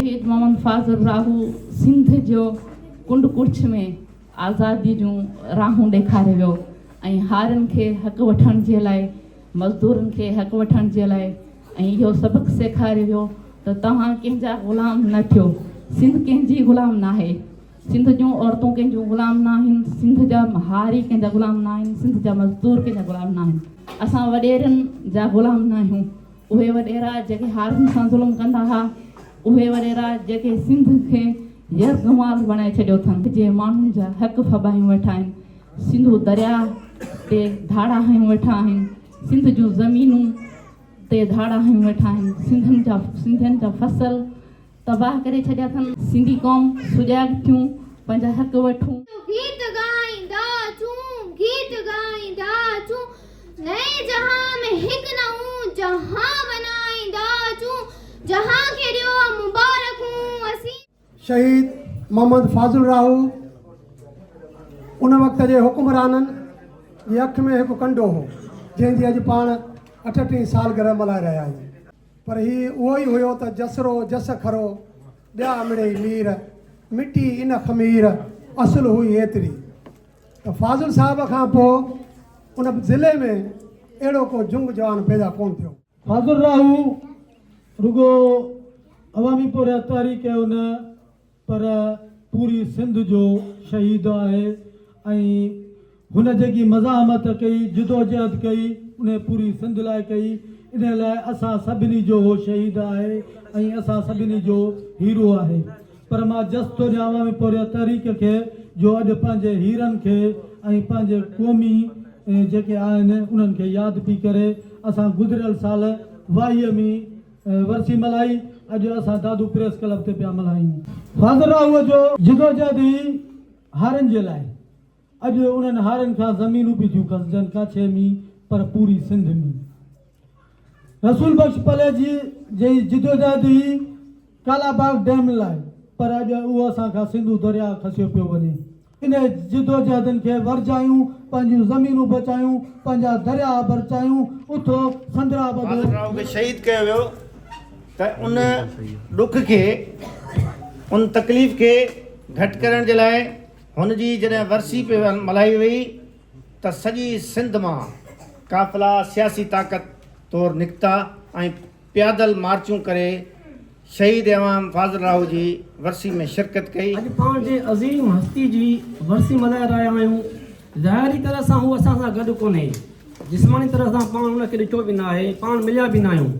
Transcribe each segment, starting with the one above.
شهيد محمد فاضل راهو سنڌ جو ڪنڊ ڪڙڇ ۾ آزادي جون راهون ڏيکاري ويو ۽ هارين کي حق وٺڻ جي لاء مزدورن کي حق وٺڻ جي لاء ۽ اهو سبق سيکاري ويو ته توهان ڪنهن جا غلام نه ٿيو سنڌ ڪنهن جي غلام ناهي. سنڌ جون عورتون ڪنهن جون غلام ناهن، سنڌ جا هاري ڪنهن جا غلام ناهن، سنڌ جا مزدور ڪنهن جا غلام ناهن. اسان وڏيرن جا غلام ناهيون. اهي وڏيرا جيڪي هارين سان ظلم ڪندا ها، اهي وڏيرا جيڪي سنڌ کي يرغمال بڻائي ڇڏيو اٿن. جي ماڻهن جا حق ڦٻايون ويٺا آهن، سنڌو درياء تي ڌاڙا هنيون ويٺا آهن، سنڌ جون زمينون تي ڌاڙا هنيون ويٺا آهن، سنڌين جا سنڌين جا فصل، تباهه ڪري ڇڏيا اٿن. سنڌي قوم سجاڳ ٿيون پنهنجا حق وٺون. گيت ڳائيندا اچون گيت ڳائيندا اچون نئين جهان ۾ هڪ نئون جهان بنائيندا اچون جهان کي ڏيو مبارڪون اسين. شهيد محمد فاضل راهو ان وقت جي حڪمرانن جي اک ۾ هڪ ڪنڊو هو جنهن جي اڄ پاڻ اٺٽيهين سالگرهه ملهائي رهيا آهيون. پر هي اهو ئي هيو ته جس رو جس کرو، ٻيا امڙئي مير، مٽي ان خمير، اصل هئي ايتري ته فاضل صاحب کان پوء ان ضلعي ۾ اهڙو ڪو جنگ جوان پيدا ڪونه ٿيو. فاضل راهو رڳو عوامي پورهيت واري ڪيو نه. پر پوري سنڌ جو شهيد آهي ۽ هن جيڪي مزاحمت ڪئي جدوجهد ڪئي انهي پوري سنڌ لاء ڪئي انهي لاء اسان سڀني جو هو شهيد آهي ۽ اسان سڀني جو هيرو آهي پر مان جس ٿو ڏيان عوامي پورهيت تحريڪ کي جو اڄ پنهنجي هيرن کي ۽ پنهنجي قومي جيڪي آهن انهن کي ياد پي ڪري اسان گذريل سال واهي ۾ ورسي ملهائي اڄ اسان دادو پريس ڪلب تي پيا ملهايون. فاضل راهوء جو جدوجهد ئي هارن جي لاء اڄ انهن هارن کان زمينون به ٿيون کسجن ڪاڇي ۾ پر پوري سنڌ ۾ رسول بخش پليجي جي جدوجهد ئي ڪالاباغ ڊيم لاء پر اڄ اهو اسان کان سنڌو درياهه کسيو پيو وڃي. انهن جدوجهدن کي ورجايون، پنهنجون زمينون بچايون، پنهنجا درياء برچايون، اٿو سندرا ٻڌو. بهادر راء کي شهيد ڪيو ويو ته ان ڏک کي، ان تڪليف کي گهٽ ڪرڻ جي لاء هن جي جڏهن ورسي پئي ملهائي وئي ته سڄي سنڌ مان قافلا سياسي طاقت طور نڪتا ۽ پيادل مارچون ڪري شهيد امام فاضل راهو جي ورسي ۾ شرڪت ڪئي. اڄ پاڻ جنهن عظيم هستي جي ورسي ملهائي رهيا آهيون، ظاهري طرح سان هو اسان سان گڏ ڪونهي، جسماني طرح سان پاڻ هن کي ڏٺو به ناهي، پاڻ مليا به ناهيون،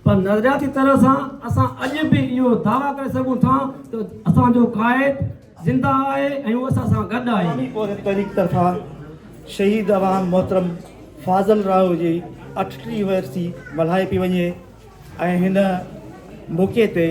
پر نظرياتي طرح سان اسان اڄ به اهو دعويٰ ڪري سگهون ٿا ته اسان جو قائد، زنده آهي ۽ هو اسان سان گڏ آهي. عوامي پورهيت تحريڪ طرفان شهيد عوام محترم فاضل راهو جي اٺٽيهين ورسي ملهائي پئي وڃي ۽ هن موقعي تي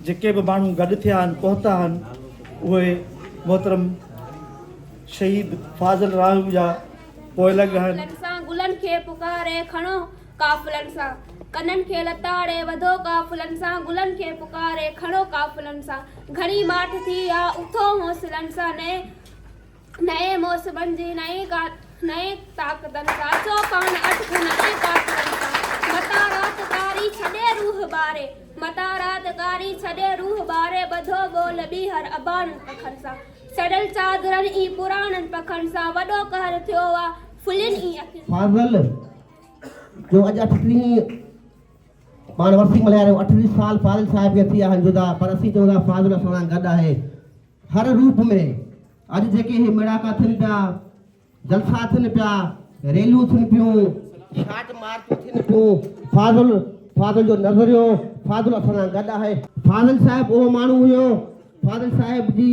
جيڪي به ماڻهو گڏ ٿيا آهن پهتا آهن اهي محترم شهيد فاضل راهو جا پوئلڳ آهن. لڪسان گلن کي پڪاري کڻو قافلن سان ڪنن کي لتاڙي وڌو قافلن سان گلن کي پڪاري کڻو قافلن سان گهڻي ماٺ ٿي آ اٿو حوصلن سان نئين نئين موسمن جي نئين ڪا نئين طاقتن سان اچو پاڻ اٽڪون نئين قافلن سان متان رات ڪاري ڇڏي روح ٻاري متان رات ڪاري ڇڏي روح ٻاري ٻڌو ٻول ٻيهر اباڻن پکن سان سڙيل چادرن ۽ پراڻن پکن سان وڏو قهر ٿيو آ ڦلين ۽ اکين سان. فاضل جو اڄ اٺٽيهين پاڻ ورسي ملهايا رهيو اٺٽيهه سال فاضل صاحب کي ٿي آهن جدا پر اسين چون ٿا فاضل اسان سان گڏ آهي هر روپ ۾ اڄ جيڪي هي ميڙاڪا ٿين پيا جلسا ٿين پيا ريليون ٿين پيون شاٽ مارچون ٿين پيون فاضل فاضل جو نظريو فاضل اسان سان گڏ آهي فاضل صاحب اهو ماڻهو هيو فاضل صاحب جي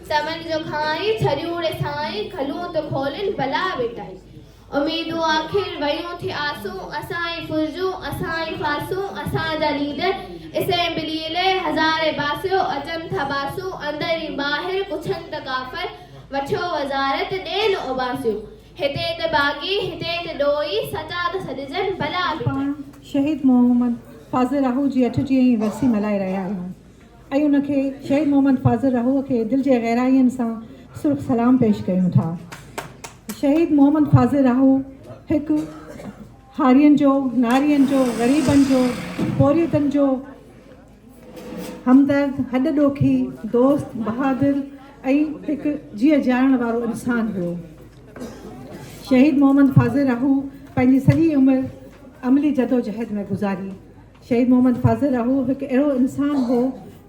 سمن جو کانئن ڇريون ري سائين کلون ته کولين بلا ويٽائي اميدون آخر ويون ٿي آسون اسان ئي ڦرجون اسان ئي ڦاسون اسان جا ليڊر اسيمبلي لئي هزارين باسيو اچن ٿا باسون اندر ۽ ٻاهر پڇن ته ڪافر وٺيو وزارت ڏين اوٻاسيون هتي ته باغي هتي ته ڏوهي سچا ته سڏجن بلا ويٽائي. اسان پاڻ شهيد محمد فاضل آهوجي اٺٽيهين ورسي ملهائي رهيا آهيون. ۽ ان کي شهيد محمد فاضل رحوء کي دل جي گهراين سان سرخ سلام پيش ڪيون ٿا. شهيد محمد فاضل رحو هڪ هارين جو، نارين جو، غريبن جو، پورهيتن جو همدرد، هڏ ڏوکي، دوست، بهادر ۽ هڪ جيء جيارڻ وارو انسان هو. شهيد محمد فاضل رحو پنهنجي سڄي عمر عملي جدوجهد ۾ گذاري. شهيد محمد فاضل اهو هڪ اهڙو انسان هو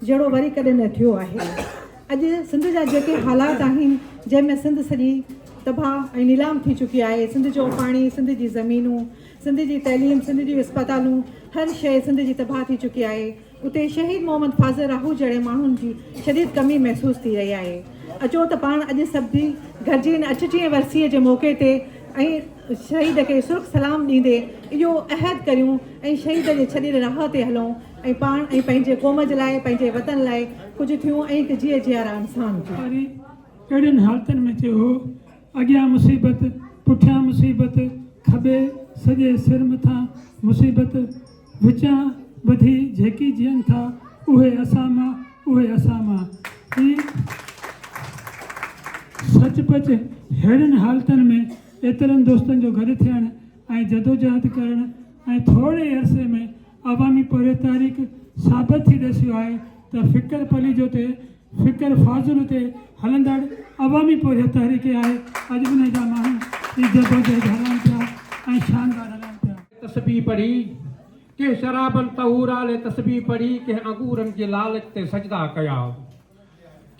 جهڙو وري ڪڏهن نه ٿيو آهي اڄ سنڌ جا جيڪي حالات آهن جنهن ۾ سنڌ سڄي تباهه ۽ نيلام ٿي چڪي آهي سنڌ جو پاڻي سنڌ جي زمينون سنڌ جي تعليم سنڌ جون اسپتالون هر شيء سنڌ جي تباهه ٿي چڪي آهي اتي شهيد محمد فاضل راهو جهڙي ماڻهن جي شديد ڪمي محسوس ٿي رهي آهي اچو ته پاڻ اڄ سڀ گڏجي اچجي ورسيء جي موقعي تي شهيد کي سرخ سلام ڏيندي اهو عهد ڪريون ۽ شهيد جي ڇڏيل راهه تي هلون ۽ پاڻ ۽ پنهنجي قوم جي لاء پنهنجي وطن لاء ڪجهه ٿيون ۽ هڪ جيئي جيارا انسان ٿيون. واري ڪهڙين حالتن ۾ ٿيو هو. اڳيان مصيبت، پٺيان مصيبت، کٻي سڄي سر مٿان مصيبت. وچان ٻڌي جهڪي جيئن ٿا اهي اسان مان اهي اسان مان هي سچ پچ ههڙين حالتن ۾ ايترن دوستن جو گڏ ٿيڻ ۽ جدوجهد ڪرڻ ۽ ٿوري عرصي ۾ عوامي پورهيت تحريڪ ثابت ٿي ڏسيو آهي ته فڪر پليجو تي فڪر فاضل تي هلندڙ عوامي پورهيت تحريڪ ئي آهي، اڄ به ان جا ماڻهو ئي جدوجهد هلائين پيا ۽ شاندار هلائين پيا. تسبيح پڙهي، ڪنهن شرابن طهورا لئه تسبيح پڙهي، ڪنهن انگورن جي لالچ تي سجدا ڪيا.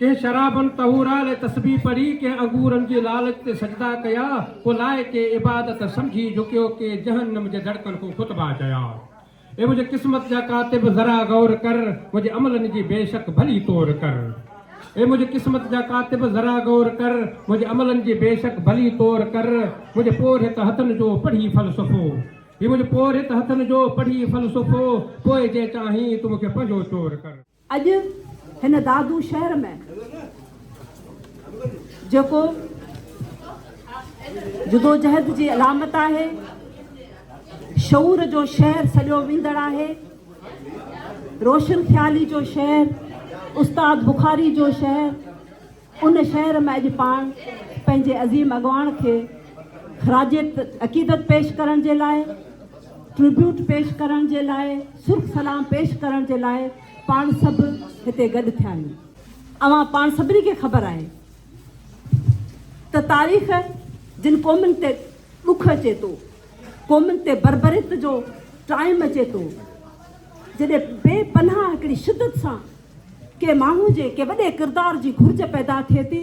ڪنهن شرابن طهورا لئه تسبيح پڙهي، ڪنهن انگورن جي لالچ تي سجدا ڪيا، ڪو لائق عبادت سمجهي جهڪيو، ڪي جهنم جي دڙڪن ڪو خطبا چيا. اي منهنجي قسمت جا ڪاتب ذرا غور ڪر منهنجي عملن جي بيشڪ ڀلي تور ڪر اي منهنجي قسمت جا ڪاتب ذرا غور ڪر منهنجي عملن جي بيشڪ ڀلي تور ڪر منهنجي پورهيت هٿن جو پڙهي فلسفو هي منهنجي پورهيت هٿن جو پڙهي فلسفو پوء جي چاهين تون مون کي پنهنجو چور ڪر. اڄ هن دادو شهر ۾ جيڪو جدوجهد جي علامت آهي، شعور جو شهر سڏيو ويندڙ آهي، روشن خيالي جو شهر، استاد بخاري جو شهر، ان شهر ۾ اڄ پاڻ پنهنجي عظيم اڳواڻ کي خراج عقيدت پيش ڪرڻ جي لاء، Tribute، پيش ڪرڻ جي لاء سرخ سلام پيش ڪرڻ جي لاء پاڻ سڀ هتي گڏ ٿيا آهيون. اوهان پاڻ سڀني کي خبر آهي ته تاريخ جن قومن تي ڏک اچي ٿو، قومن تي بربريت جو ٽائيم اچي ٿو، جڏهن بي پناهه هڪڙي شدت سان ڪنهن ماڻهو جي ڪنهن وڏي ڪردار جي گهرج پيدا ٿئي ٿي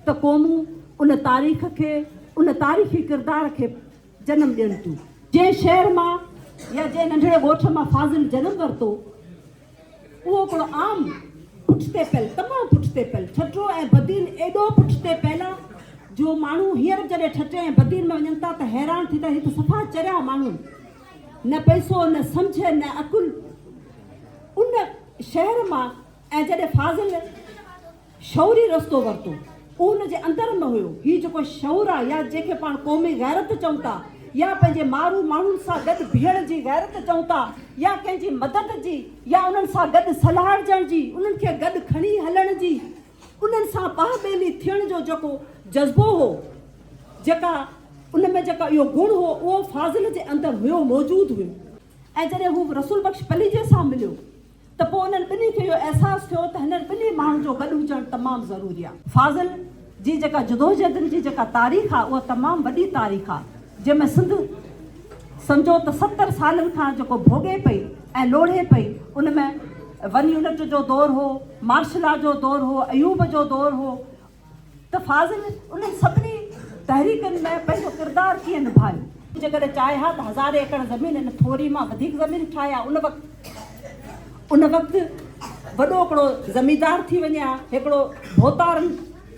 ته قومون ان تاريخ کي ان تاريخي ڪردار کي جنم ڏين ٿيون جنهن شهر مان يا جنهن ننڍڙي ڳوٺ مان فاضل جنم ورتو اهو هڪڙو عام پٺتي پيل تمام پٺتي پيل ٺٽو ۽ بدين ايڏو پٺتي پيل آ جو ماڻهو هينئر جڏهن ٺٽي ۽ بدين ۾ وڃن ٿا ته حيران ٿي ٿا هي ته صفا چريا ماڻهو نه پئسو نه سمجهه نه عقل ان شهر مان ۽ جڏهن فاضل شعوري رستو ورتو اهو ان جي اندر ۾ هيو هي جيڪو شعور آ يا جنهن کي پاڻ قومي غيرت چئون ٿا يا پنهنجي مارو ماڻهن سان گڏ بيهڻ جي غيرت چئون ٿا يا ڪنهن جي مدد جي يا انهن سان گڏ سلهاڙجڻ جي انهن کي گڏ کڻي هلڻ جي انهن سان پاهه ٻيلي ٿيڻ جو جيڪو جذبو هو جيڪا ان ۾ جيڪا اهو گڻ هو اهو فاضل جي اندر هيو موجود هيو. ۽ جڏهن هو رسول بخش پليجي سان مليو ته پوء انهن ٻنهي کي اهو احساس ٿيو ته هنن ٻنهي ماڻهن جو گڏ هجڻ تمام ضروري آهي. فاضل جي جيڪا جدوجهدن جي جيڪا تاريخ آهي اها تمام وڏي تاريخ آهي جنهن ۾ سنڌ سمجهو ته ستر سالن کان جيڪو ڀوڳي پئي ۽ لوڙهي پئي ان ۾ ون يونٽ جو دور هو مارشلا جو دور هو ايوب جو دور هو ته فاضل انهن سڀني تحريڪن ۾ پنهنجو ڪردار ڪيئن نڀايو؟ جيڪڏهن چاهي ها ته هزارين ايڪڙ زمين ان ٿوري مان وڌيڪ زمين ٺاهي ها، ان وقت ان وقت وڏو هڪڙو زميندار ٿي وڃي ها، هڪڙو ڀوتارن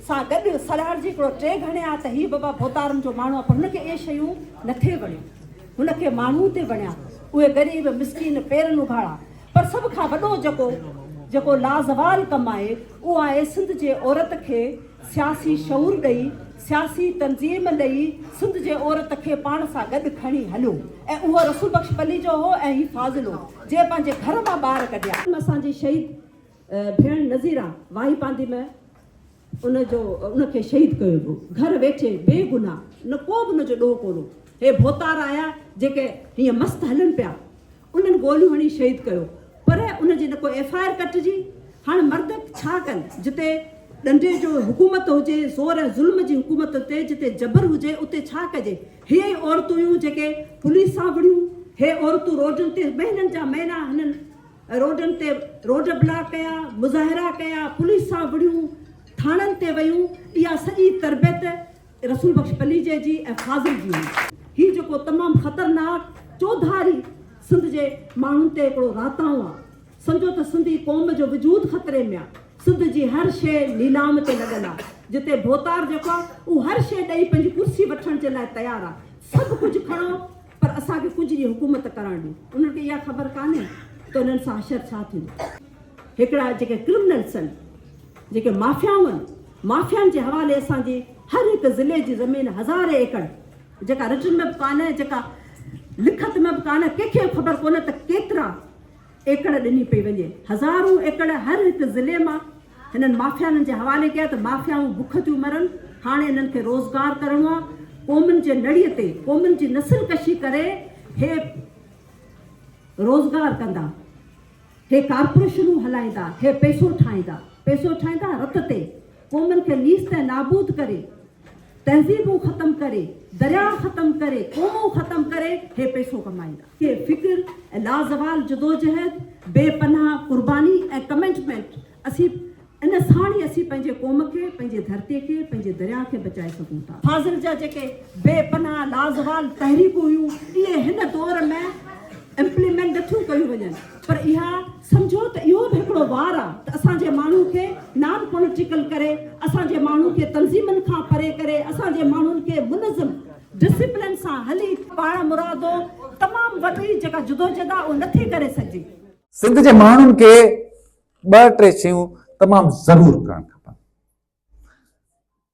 سان گڏ سلهاڙجي هڪڙو ٽيگ هڻي ها ته هي بابا ڀوتارن جو ماڻهو آهي پر هن کي اهي شيون نٿي وڻيون، هن کي ماڻهو ٿي وڻيا، اهي غريب مسڪين پيرن اگهاڙا، پر سڀ کان وڏو جيڪو جيڪو لازوال ڪم آهي اهو آهي سنڌ جي عورت کي سياسي شعور ڏئي سياسي تنظيم ڏئي سنڌ جي عورت کي پاڻ سان گڏ کڻي هليو ۽ اهو رسول بخش پليجو هو ۽ هي فاضلو جنهن پنهنجي گهر مان ٻار ڪڍيا. اسان جي شهيد ڀيڻ نظيره واهي پاندي م. ان جو ان کي شهيد ڪيو ويو گهر ويٺي بي گناهه نه ڪو به ان جو ڏوهه ڪونه هي ڀوتار آيا جيڪي هيئن مست هلن پيا انهن گوليون هڻي شهيد ڪيو پر ان جي نه ڪو ايف آئر ڪٽجي هاڻ مرد ڇا ڪن جتي ڏنڊي جو حڪومت هجي زور ۽ ظلم جي حڪومت تي جتي جبر هجي اتي ڇا ڪجي هي ئي عورتون هيون جيڪي پوليس سان وڙهيون هي عورتون روڊن تي مهينن جا مهينا هنن روڊن تي روڊ بلاڪ ڪيا، مظاهرا ڪيا، پوليس سان وڙهيون، ٿاڻن تي ويون، اها سڄي تربيت رسول بخش پليجي جي ۽ فاضل جي هئي. هي جيڪو تمام خطرناڪ چوڌاري سنڌ جي ماڻهن تي هڪڙو راتاڻو آ، سمجهو ته سنڌي قوم جو وجود خطري ۾ آ، سنڌ جي هر شيء نيلام تي لڳل آ، جتي ڀوتار جيڪو آ اهو هر شيء ڏئي پنهنجي ڪرسي وٺڻ جي لاء تيار آ، سڀ ڪجهه کڻو، پر اسان کي ڪجهه ڏينهن حڪومت ڪرڻ ڏي. انهن کي اها خبر ڪانهي ته انهن سان حشر ڇا ٿيندو. هڪڙا جيڪي ڪرمنلس آهن، جيڪي مافيائون آهن، مافيائن جي حوالي اسان جي هر هڪ ضلعي جي زمين هزارين ايڪڙ جيڪا رٽن ۾ به ڪانهي، جيڪا لکت ۾ به ڪانهي، ڪنهن کي به خبر ڪونهي ته ڪيترا. ايڪڙ ڏني پئي وڃي. هزارون ايڪڙ هر هڪ ضلعي مان هنن مافيانن جي حوالي ڪيا ته مافيائون بک ٿيون مرن، هاڻي انهن کي روزگار ڪرڻو آ، قومن جي نڙي تي قومن جي نسل ڪشي ڪري هي روزگار ڪندا، هي ڪارپوريشنون هلائيندا، هي پئسو ٺاهيندا، پئسو ٺاهيندا رت تي، قومن کي نيست ۽ نابود ڪري تهذيبون ختم ڪري، درياء ختم ڪري، قومون ختم ڪري هي پئسو ڪمائيندا. کي فڪر ۽ لازوال جدوجهد، بي پناهه قرباني ۽ ڪمٽمينٽ اسين ان ساڻ ئي اسين پنهنجي قوم کي، پنهنجي ڌرتي کي، پنهنجي درياء کي بچائي سگهون ٿا. فاضل جا جيڪي بي پناهه لازوال تحريڪون هيون اهي هن دور ۾ امپليمينٽ نٿيون ڪيون وڃن پر اها سمجهو ته اهو به هڪڙو وار آ ته اسان جي ماڻهو کي نان پوليٽيڪل ڪري، اسان جي ماڻهو کي تنظيمن کان پري ڪري، اسان جي ماڻهن کي منظم ڊسيپلين سان هلي، پاڻ مرادو تمام وڏي جيڪا جدوجھد آ اهو نه ٿي ڪري سگهجي. سنڌ جي ماڻهن کي ٻه ٽي شيون تمام ضرور ڪرڻ کپن.